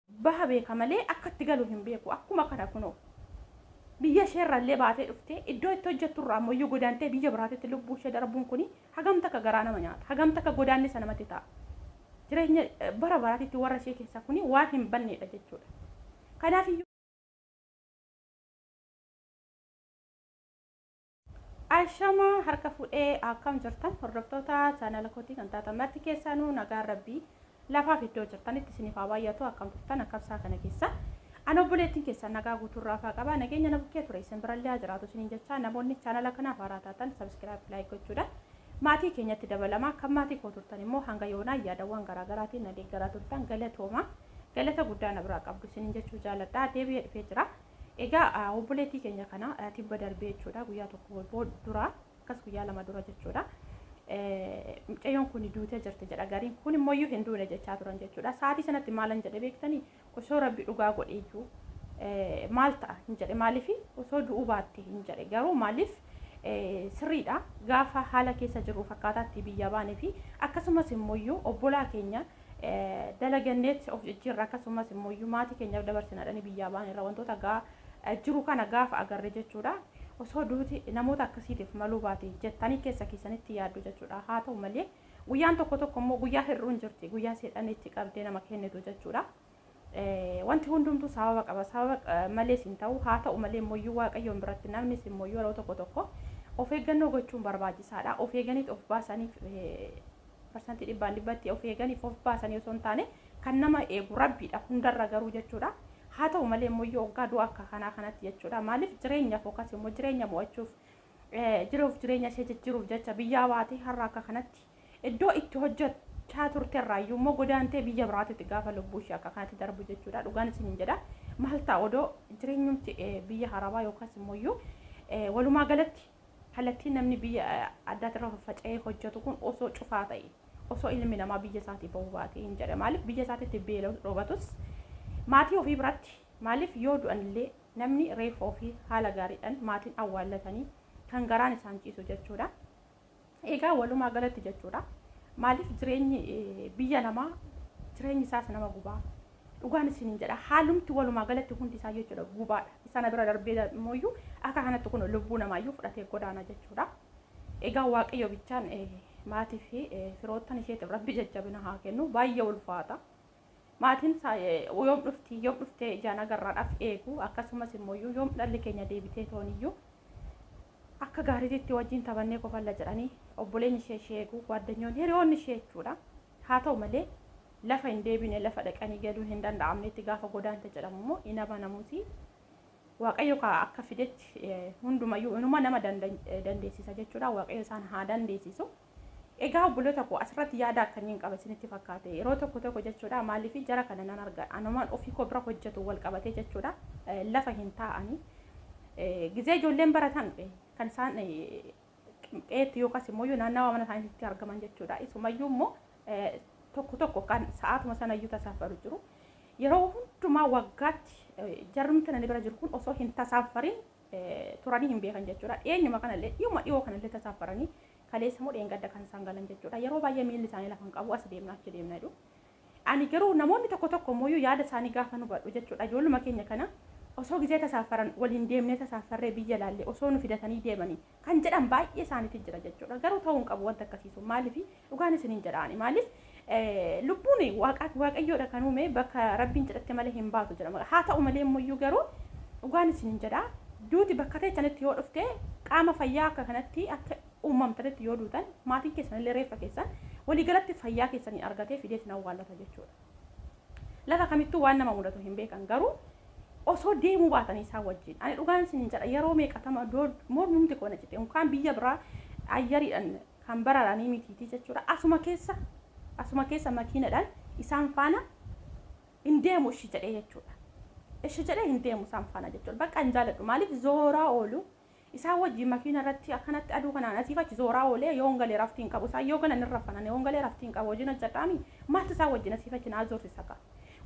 baha beeka malee akka itti galu hin beeku. Akkuma kana kunoo biyya ishee irraa illee baatee dhuftee iddoo itti hojjettu irraa ammoo iyyuu godaantee biyya biraatitti lubbuu ishee darbuun kuni hagam takka garaa nama nyaata. Hagam takka godaannisa namatti ta'a. Jireenya bara baraatitti warra ishee keessaa kuni waan hin banneedha jechuudha. Kanaaf iyyuu. Ashama harka fuudhee akkam jirtan hordoftoota chaanala kootii kan taatan marti keessaanuu nagaan rabbii lafaaf iddoo jirtanitti isiniif haa baay'atu akkam turtan akkam isaa kana keessa an obboleettiin keessan nagaa guutuurraa faa qaba nageenya na bukkee ture isin birallee haa jiraatu isiniin jechaa namoonni chaanala kanaaf haaraa taatan sabiskiraayib laayik gochuudhaan maatii keenyatti dabalamaa kan maatii koo turtan immoo hanga yoonaa yaadawwan garaagaraatiin na deeggaraa turtan galatooma galata guddaa na biraa qabdu isiniin jechuu jaaladha deebi'ee dhufee jira. Egaa obboleettii keenya kana tibba darbee jechuudha guyyaa tokko dura akkas guyyaa lama dura jechuudha. Mucayyoon kun duutee jirti jedha gariin kun immoo iyyuu hin duune jechaa turan jechuudha. Sa'aatii sanatti maalan jedhe beektanii osoo rabbi dhugaa godhe iyyuu maal ta'a hin jedhe maaliif osoo du'uu baatte hin jedhe garuu maaliif sirriidha gaafa haala keessa jirru fakkaataatti biyya baane fi akkasumas immoo iyyuu obbolaa keenya. dalaganneet of jijjiirra akkasumas immoo iyyuu maatii keenyaaf dabarsina dhani biyyaa ba'an irra wantoota gaa jiru kana gaafa agarre jechuudha. Osoo duuti namoota akkasiitiif maluu baate jettanii keessa keessanitti yaaddu jechuudha. Haa ta'u malee guyyaan tokko tokko immoo guyyaa hir'uun jirti. Guyyaa seexanni itti qabdee nama kennitu jechuudha. Wanti hundumtuu sababa qaba, sababa malees hin ta'u. Haa ta'u malee immoo Waaqayyoon biratti namnis immoo yeroo tokko tokko of eeggannoo gochuun barbaachisaadha. Of eeganiit of baasaniif parsantii dhibbaan dhibbatti of eeganiif of baasanii osoo hin taane kan nama eegu rabbiidha hundarra garuu jechuudha. Haa ta'u malee immoo yoo oggaa du'a akka kanaa kanatti jechuudha. Maaliif jireenyaaf yookaas immoo jireenya mo'achuuf jiruuf jireenya ishee jijjiiruuf jecha biyyaa baatee har'a akka kanatti Iddoo itti hojjechaa turte irraayyuu immoo godaantee biyya biraatitti gaafa lubbuu ishee akka kanatti darbu jechuudha. Dhugaan isiniin jedha. Maal ta'a odoo jireenyumti biyya harabaa yookaas immoo iyyuu walumaa galatti kallattiin namni biyya addaatti irra faffaca'ee hojjetu kun osoo cufaa ta'e osoo ilmi namaa biyya isaatii ba'uu baatee hin jedha. Maaliif biyya isaatitti beela'us dhoobatus maatii ofii biratti maaliif yoo du'an illee namni reeffa ofii haala gaariidhaan maatiin awwaallatanii kan garaan isaan ciisu jechuudha. Egaa walumaa galatti jechuudha maaliif jireenyi biyya namaa jireenyi isaas nama gubaa dhugaan isiniin jedha haalumti walumaa galatti hundi isaa jechuudha gubaadha isana bira darbee immoo iyyuu akka kanatti kun lubbuu namaa iyyuu fudhatee godaana jechuudha egaa waaqayyo bichaan maatii fi firoottan isheetiif rabbi jajjabina haa kennu baay'ee ulfaata Maatiin isaa yoom dhufti, yoom dhuftee ijaan agarradhaf eegu, akkasumas immooyyuu yoom dhalli keenya deebiteetoon iyyuu akka gaariititti wajjin taphannee kofalla jedhanii obboleenyi ishee ishee eegu, gwaaddanyoonni, hiriyoonni ishee jechuudha. Haa ta'u malee lafa hin deebine, lafa dhaqanii galuun hin danda'amnetti gaafa godaante jedhamu immoo hin amanamuuti. Waaqayyo kaa akka fidetti hundumayyuu inuma nama dandeessisa jechuudha. Waaqayyo isaan haa dandeessisu. Egaa obboloota koo asirratti yaada akkamiin qaba isinitti fakkaate yeroo tokko tokko jechuudha maaliif jara kana nan arga anumaan ofii koo bira hojjetu wal qabatee jechuudha lafa hin taa'anii gizee ijoolleen baratan kan isaan qeetti yookaas immoo naannawa mana isaaniitti argaman jechuudha isumayyuu immoo tokko tokko kan sa'aatuma sanayyuu tasaafaru jiru yeroo hundumaa waggaatti jarumti nani bira jiru kun osoo hin tasaafarin turanii hin beekan jechuudha. Dhiyeenyuma kanallee dhiyuma dhiyoo kanallee tasaaffaranii kaleessa moo dheengadda kan isaan galan jechuudha. Yeroo baay'ee miilli isaanii lafa hin qabu as deemna achi deemna jedhu. Ani garuu namoonni tokko tokko immoo yaada isaanii gaafa nu badhu jechuudha. Ijoolluma keenya kana osoo gizee tasaaffaran waliin deemnee tasaaffarree biyya laallee osoo nu fidatanii deemanii kan jedhan baay'ee isaaniitiin jira jechuudha. Garuu ta'uu hin qabu wanta akkasii sun maaliif dhugaan isin hin jedhaani maaliif lubbuun waaqayyoodha kan uume bakka rabbiin jedhatti malee hin baatu jedhama. Haa ta'u malee immoo garuu dhugaan isin hin jedha duuti bakka teessanitti yoo dhufte qaama fayyaa akka kanatti akka uumamtanitti yoo duutan maatiin keessan illee reeffa keessan waliigalatti fayyaa keessanii argatee fidee isin awwaallata jechuudha. Lafa kamittuu waan nama mudatu hin beekan garuu osoo deemuu baatanii isaan wajjin ani dhugaan isiniin jedha yeroo meeqatama dood mormumti koo na cite unkaan biyya biraa ayyariidhan kan bararanii mitiitii jechuudha asuma keessa asuma keessa makiinadhan isaan faana hin deemu ishi jedhee jechuudha ishi jedhee hin deemu isaan faana jechuudha bakka hin jaaladhu maaliif zooraa oolu Isaan wajjin makiina irratti akkanatti aduu kanaan asiif achi zooraa oolee yoon gale rafti hin qabu. Isaan yoo galan hin rafan ani yoon galee rafti hin qabu hojiin hojjedhaa mii? Maaltu isaan wajjin asiif achi naa zoorsisa kaa?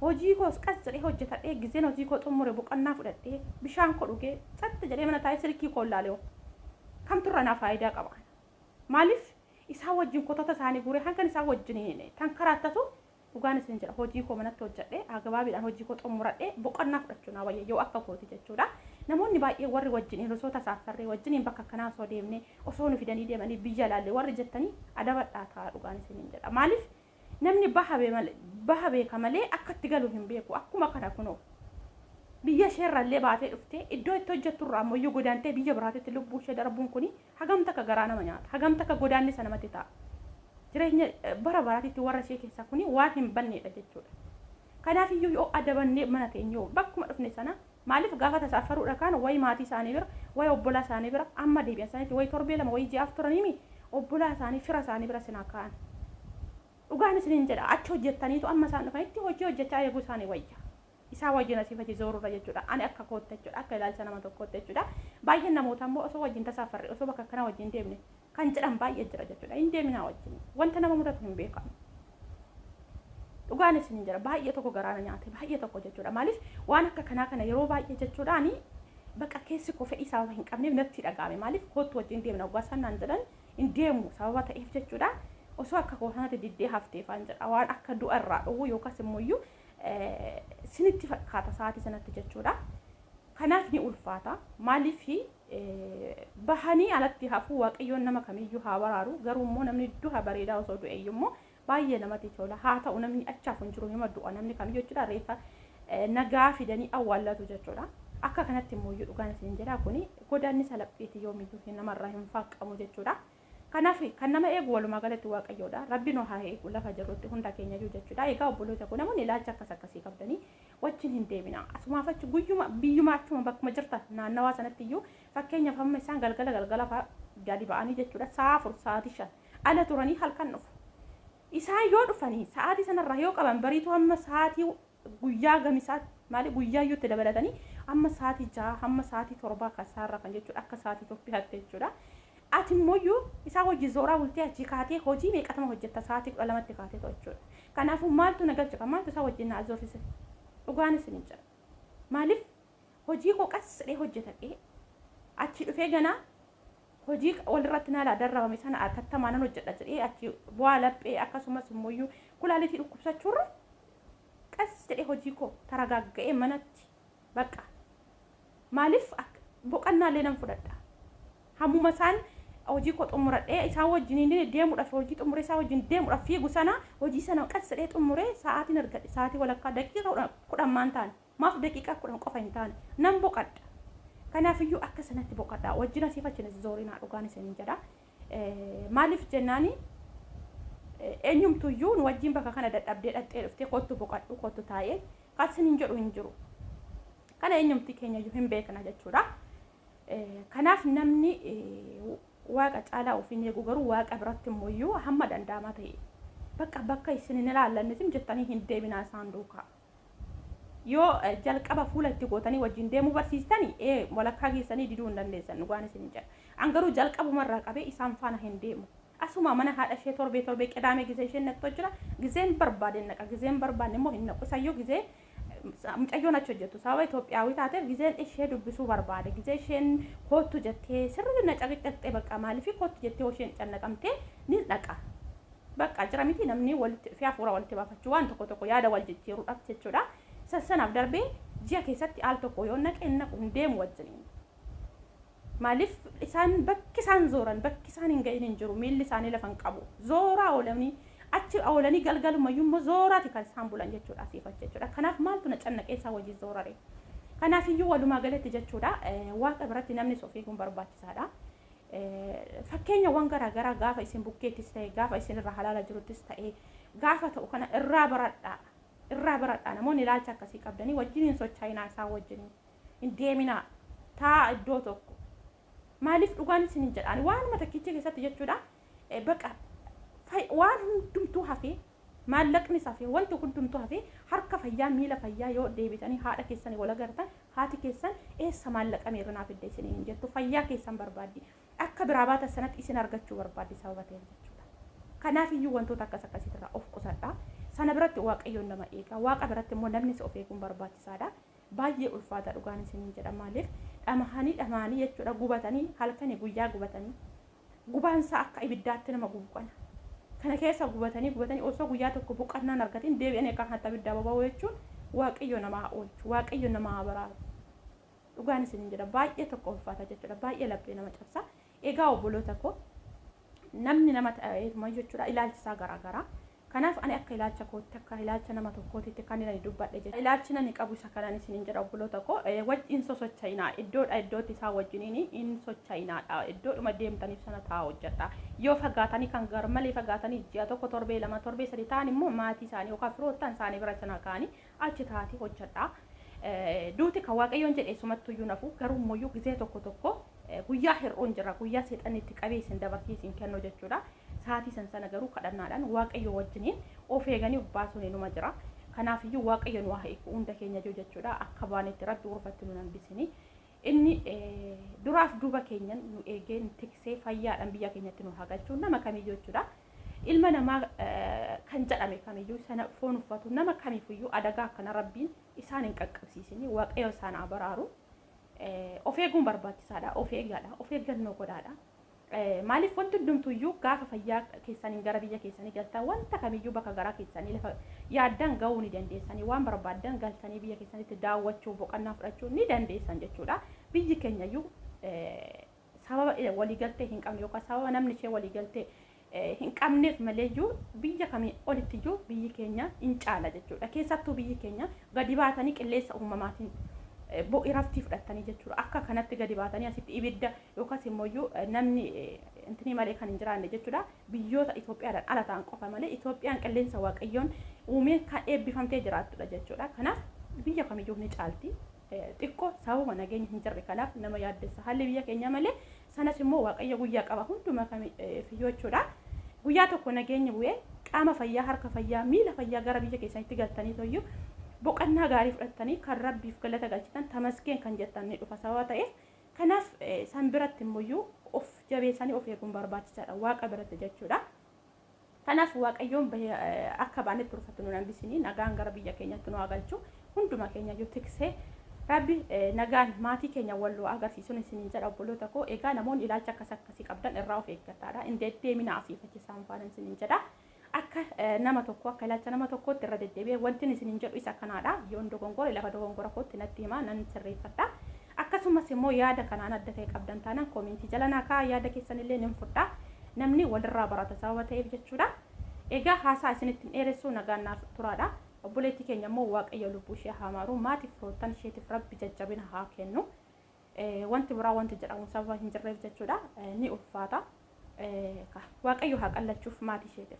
Hojii koos qas jedhee hojjetadhee gizeen hojii koo xummure boqannaa fudhadhee bishaan koo dhugee tsat jedhee mana taa'ee silkii koon laalehoo kamtu irraa naa faayidaa qaba? Maaliif isaan wajjin kotota isaanii guuree hangan isaan wajjin tankaraattatu Dhugaan isin jedha hojii koo manatti hojjadhee agabaabiidhaan hojii koo xummuradhee boqonnaa fudhachuu naa wayya yoo akka kooti jechuudha. Namoonni baay'ee warri wajjin hirrisoota saaffarree wajjiniin bakka akkanaa osoo deemnee osoo nu fidanii deemanii biyya laallee warri jettanii adabadhaa taa dhugaan isiniin jedha. Maaliif namni baha baha beeka malee akka itti galu hin beeku akkuma kana kunoo biyya isheerrallee baatee dhuftee iddoo itti hojjetturraa ammayyuu godaantee biyya biraatitti lubbuu ishee darbuun kuni Hagam takka garaa nama nyaata. Hagam takka godaannisa namatti ta'a. Jireenya bara baraatitti warra ishee keessaa kuni waan hin banneedha jechuudha. Kanaafiyyuu yoo adabannee mana teenye hoo bakkuma dhufne sana maaliif gaafa tasa affaruudha kaan wayi maatii isaanii bira, wayi obbolaa isaanii bira amma deebi'an sanitti wayi torbee lama wayi ji'aaf turaniimi obbolaa isaanii fira isaanii bira sinaa kaa'an. Dhugaan isiniin jedha achi hojjettaniitu amma isaan dhufanitti hojii hojjechaa eeguu isaanii wayya. isaa wajjin asiif achi zoorudha jechuudha. Ani akka kootti jechuudha. Akka ilaalcha nama tokkootti jechuudha. Baay'een namoota immoo osoo wajjin tasaafarre osoo bakka akkanaa wajjin deemne kan jedhan baay'ee jira jechuudha. Hin deeminaa wajjin. Wanta nama mudatu hin beekamu. Dhugaan isin hin jira. Baay'ee tokko garaana nyaate. Baay'ee tokko jechuudha. Maaliif waan akka kanaa kana yeroo baay'ee jechuudhaani bakka keessi koo fedhii sababa hin qabneef natti dhaga'ame. Maaliif koottu wajjin deemna waggaa isaan naan jedhan hin deemu sababa ta'eef jechuudha. osoo akka koo sanatti diddee hafteefaan jedha waan akka du'a irraa dhowwu yookaas immoo iyyuu sinitti fakkaata sa'aatii sanatti jechuudha. Kanaaf ni ulfaata. Maaliif bahanii alatti hafuu waaqayyoon nama kamiyyuu haa baraaru. Garuu immoo namni duha bareedaa osoo du'e iyyuu immoo baay'ee namatti tola. Haa ta'u namni achaaf hin jiru hima du'a namni kamiyyuu jechuudha reefa nagaa fidanii awwaallatu jechuudha. Akka kanatti immoo iyyuu dhugaan isin jedha kuni godaanni salaphiiti yoomiyyuu namarraa hin faaqqamu jechuudha. Kanaaf kan nama eegu walumaa galatti Waaqayyoodha. Rabbi nu haa eegu lafa jirrutti hunda keenyayyuu jechuudha. Egaa obboloota koo namoonni ilaalcha akkas akkasii qabdanii wajjin hin deeminaa. Asumaaf achi guyyuma biyyuma achuma bakkuma jirtan naannawaa sanatti iyyuu fakkeenyaaf amma isaan galgala galgala fa'aa gadi ba'anii jechuudha sa'a afur sa'aatii shan ala turanii halkan dhufu. Isaan yoo dhufanii sa'aatii sanarraa yoo qaban bariituu amma sa'aatii Guyyaa gamisaatti maali guyyaayyuu itti dabalatanii amma sa'aatii jaha hamma sa'aatii torbaa kan isaan rafan jechuudha akka sa'aatii Itoophiyaatti jechuudha. Ati immoo isaa hojii zooraa bultee achii kaatee hojii meeqatama hojjetta sa'aatii kudha lamatti kaatee ta'u jechuudha. Kanaafuu maaltu na galche kan maaltu isaa wajjin na azoosise dhugaan isin hin jedha. Maaliif hojii koo qas jedhee hojjetadhee achii dhufee ganaa hojii walirratti na laa darramame sana atattamaa nan hojjedha jedhee achi bu'aa laphee akkasumas immoo iyyuu kulaalitii dhukkubsachuurra qas jedhee hojii koo taragaagga'ee manatti baqa maaliif boqannaa illee nan fudhadha hammuma isaan hojii koo xumuradhee isaa wajjin deemudhaaf hojii xumuree isaa wajjin deemudhaaf fiigu sana hojii sana qas jedhee xumuree sa'aatiin argadhe sa'aatii walakkaa daqiiqa kudhan maan taane Maaf daqiiqaa kudhan qofa hin taane? Nan boqadha. Kanaaf iyyuu akka sanatti boqadhaa. Wajjin asiif achi hin zoorinaa dhugaan isiniin jedha. Maaliif jennaani eenyumtu iyyuu nu wajjin bakka kana dadhabdee dhaqxee dhuftee kottu boqadhu kottu taa'ee kan isiniin jedhu hin jiru. Kana eenyumti keenya iyyuu hin beekna jechuudha. Kanaaf namni waaqa caalaa ofiin eegu garuu waaqa biratti immoo iyyuu hamma danda'ama ta'e bakka bakka isin hin ilaallannetim jettanii hin deebinaa isaan duukaa. Yoo jalqaba fuula itti gootanii wajjin deemuu barsiistan, ee, walakkaa geessanii diduu hin dandeessan, dhugaan isiniin jedha. An garuu jalqabuma irraa qabee isaan faana hin deemu. Asumaa mana haadha ishee torbee torbee qidaamee gizee isheen naqxu jira, gizeen barbaadeen naqa, gizee hin barbaanne immoo hin naqu. Isayyuu gizee mucayyoon achi hojjettu sababa Itoophiyaawii taateef gizeen ishee dubbisuu barbaade, gizee isheen koottu jettee sirrii na caqicaqxee baqqa maaliifii koottu jettee yoo isheen cannaqamtee nin dhaqa. Baqqaa jira miti namni walitti dhufee hafuura walitti baafachuu waan tokko tokko yaada wal jijjiiruudhaaf jechuudha. Isa sanaaf darbee ji'a keessatti al tokko yoon naqe hin naqu hin deemu wajjiniin. Maaliif isaan bakki isaan zooran bakki isaan hin ga'in hin jiru miilli isaanii lafa hin qabu zooraa oolanii achi oolanii galgalumayyuu immoo zooraati kan isaan bulan jechuudha asiif achi jechuudha. Kanaaf maaltu na cannaqee isaa wajjin zoorare. Kanaafiyyuu walumaa galatti jechuudha waaqa biratti namnis of eeguun barbaachisaadha. Fakkeenyawwan garaa garaa gaafa isin bukkeettis ta'e gaafa isin irraa halaala jiruttis ta'e gaafa ta'u kana irraa baradhaa. Irraa baradhaa namoonni ilaalcha akkasii qabdanii wajjin hin sochaayinaa isaan wajjin hin deeminaa taa'a iddoo tokko. Maaliif dhugaan isin hin jedhaan waanuma takkiicha keessatti jechuudha baqa waan hundumtuu hafee Maallaqnis hafee, wanti hundumtuu hafee, harka fayyaa, miila fayyaa yoo deebitanii haadha keessanii wal agartan, haati keessan eessa maallaqa meeqa naa fidda isiniin hin jettu. Fayyaa keessan barbaaddi. Akka biraa baatan sanatti isin argachuu barbaaddi sababa ta'eef jechuudha. Kanaaf iyyuu wantoota akkas akkasiitirraa of qusadhaa. Sana biratti Waaqayyoon nama eegaa. Waaqa biratti immoo namnis of eeguun barbaachisaadha. Baay'ee ulfaata dhugaan isiniin jedha. Maaliif dhamahanii dhamahanii jechuudha gubatanii halkanii guyyaa gubatanii Gubaan isaa akka ibiddaatti nama gubu kana. Kana keessa gubatanii gubatanii osoo guyyaa tokko boqannaa hin argatiin deebi'anii akka kanatti abiddaa boba'uu jechuun Waaqayyo nama haa oolchu, Waaqayyo nama haa baraaru. Dhugaan isiniin jedha baay'ee tokko ulfaata jechuudha, baay'ee laphee nama cabsa. Egaa obboloota koo namni nama ta'eetumayyuu jechuudha ilaalchi isaa garaagaraa. Kanaaf ani akka ilaalcha kootti, akka ilaalcha nama tokkootitti kan ani dubbadhe jechuudha. Ilaalchin ani qabu isa kanan isiniin jedha obboloota koo, wajji hin sosocha'inaa. Iddoodhaa iddootti isaa wajjiniin hin socha'inaadha. Iddoodhuma deemtaniif sana ta'aa hojjedhaa. Yoo fagaatanii kan garmalee fagaatanii ji'a tokko, torbee lama, torbee sadii ta'an immoo maatii isaanii yookaan firoottan isaanii bira sana ka'anii Achi taa'atii hojjadhaa. Duuti kan Waaqayyoon jedhe eessumattuu iyyuu hin hafu. Garuu immoo iyyuu gizee tokko tokko guyyaa hir'uun jira. Guyyaa seexanni itti qabee isin dabarsee isin kennu jechuu dha. Sa'aatii san sana garuu kadhannaadhaan Waaqayyoo wajjiniin of eeganii of baasuun inuma jira. Kanaaf iyyuu Waaqayyo nu haa hiiku hunda keenya iyyuu jechuu dha. Akka baanetti Rabbi urfatti nu hin hambisini. Inni duraaf duuba keenyan nu eegee nu tiksee fayyaadhaan biyya keenyatti nu haa galchu. Nama kamiyyuu jechuu dha. ilma namaa kan jedhame kamiyyuu sana foon uffatu nama kamiifuyyuu adagaa akkana rabbiin isaan hin qaqqabsiisini waaqayyo isaan haa baraaru of eeguun barbaachisaadha of eegaadha of eeggannoo godhaadha maaliif wanti hundumtuyyuu gaafa fayyaa keessaniin gara biyya keessanii galtan wanta kamiyyuu bakka garaa keessanii lafa yaaddan ga'uu ni dandeessanii waan barbaaddan galtanii biyya keessanitti daawwachuu boqannaa fudhachuu ni dandeessan jechuudha biyyi keenyayyuu sababa waliigaltee hin qabne yookaan sababa namni ishee waliigaltee hin qabneef maleeyyuu biyya kamii olittiyyuu biyyi keenya in caala jechuudha. Keessattuu biyyi keenya gadi baatanii qilleensa uumamaatiin bo iraftii fudhattanii jechuudha. Akka kanatti gadi baatanii asitti ibidda yookaas immoo iyyuu namni intinii malee kan hin jiraanne jechuudha. Biyyoota Itoophiyaadhaan ala ta'an qofa malee Itoophiyaan qilleensa waaqayyoon uumeen kan eebbifamtee jiraattudha jechuudha. Kanaaf biyya kamiyyuu ni caalti. xiqqo sababa nageenya hin jirre kanaaf nama yaaddessa haalli biyya keenyaa malee sanas immoo waaqayyo guyyaa qaba hundumaa kamiyyuu jechuudha. Guyyaa tokko nageenyi bu'ee qaama fayyaa harka fayyaa miila fayyaa gara biyya keessanitti galtanii toyyuu boqannaa gaarii fudhattanii kan rabbiif galata galchitan tamasgeen kan jettan ni dhufa sababa ta'eef kanaaf san biratti immoo of jabeessanii of eeguun barbaachisaadha waaqa biratti jechuudha. Kanaaf Waaqayyoon bahee akka baane turfatu nun hambisini nagaan gara biyya keenyatti nu haa galchu hunduma keenya iyyuu tiksee Rabbi nagaan maatii keenya wal nu agarsiisuun isiniin jedha obboloota koo egaa namoonni ilaalcha akkas akkasii qabdan irraa of eeggadhaadha hin deddeemina asii fachi isaan faana isiniin jedha akka nama tokko akka ilaalcha nama tokkootti irra deddeebi'ee wantin isiniin jedhu isa kanaadha yoon dogongore lafa dogongora kootti natti himaa nan sirreeffadha Akkasumas immoo yaada kanaan adda ta'e qabdan taanaan koomentii jala naa kaa'aa yaada keessan illee nin fudhaa. Namni walirraa barata sababa ta'eef jechuudha. Egaa haasaa isinitti hin dheeressuu nagaan naaf turaadha. Obboleettii keenya immoo Waaqayyo lubbuu ishee haa maaru. Maatiif firoottan isheetiif Rabbi jajjabina haa kennu. Wanti biraa wanti jedhamu sababa hin jirreef jechuudha. Ni ulfaata. Waaqayyo haa qallachuuf maatii isheetiif.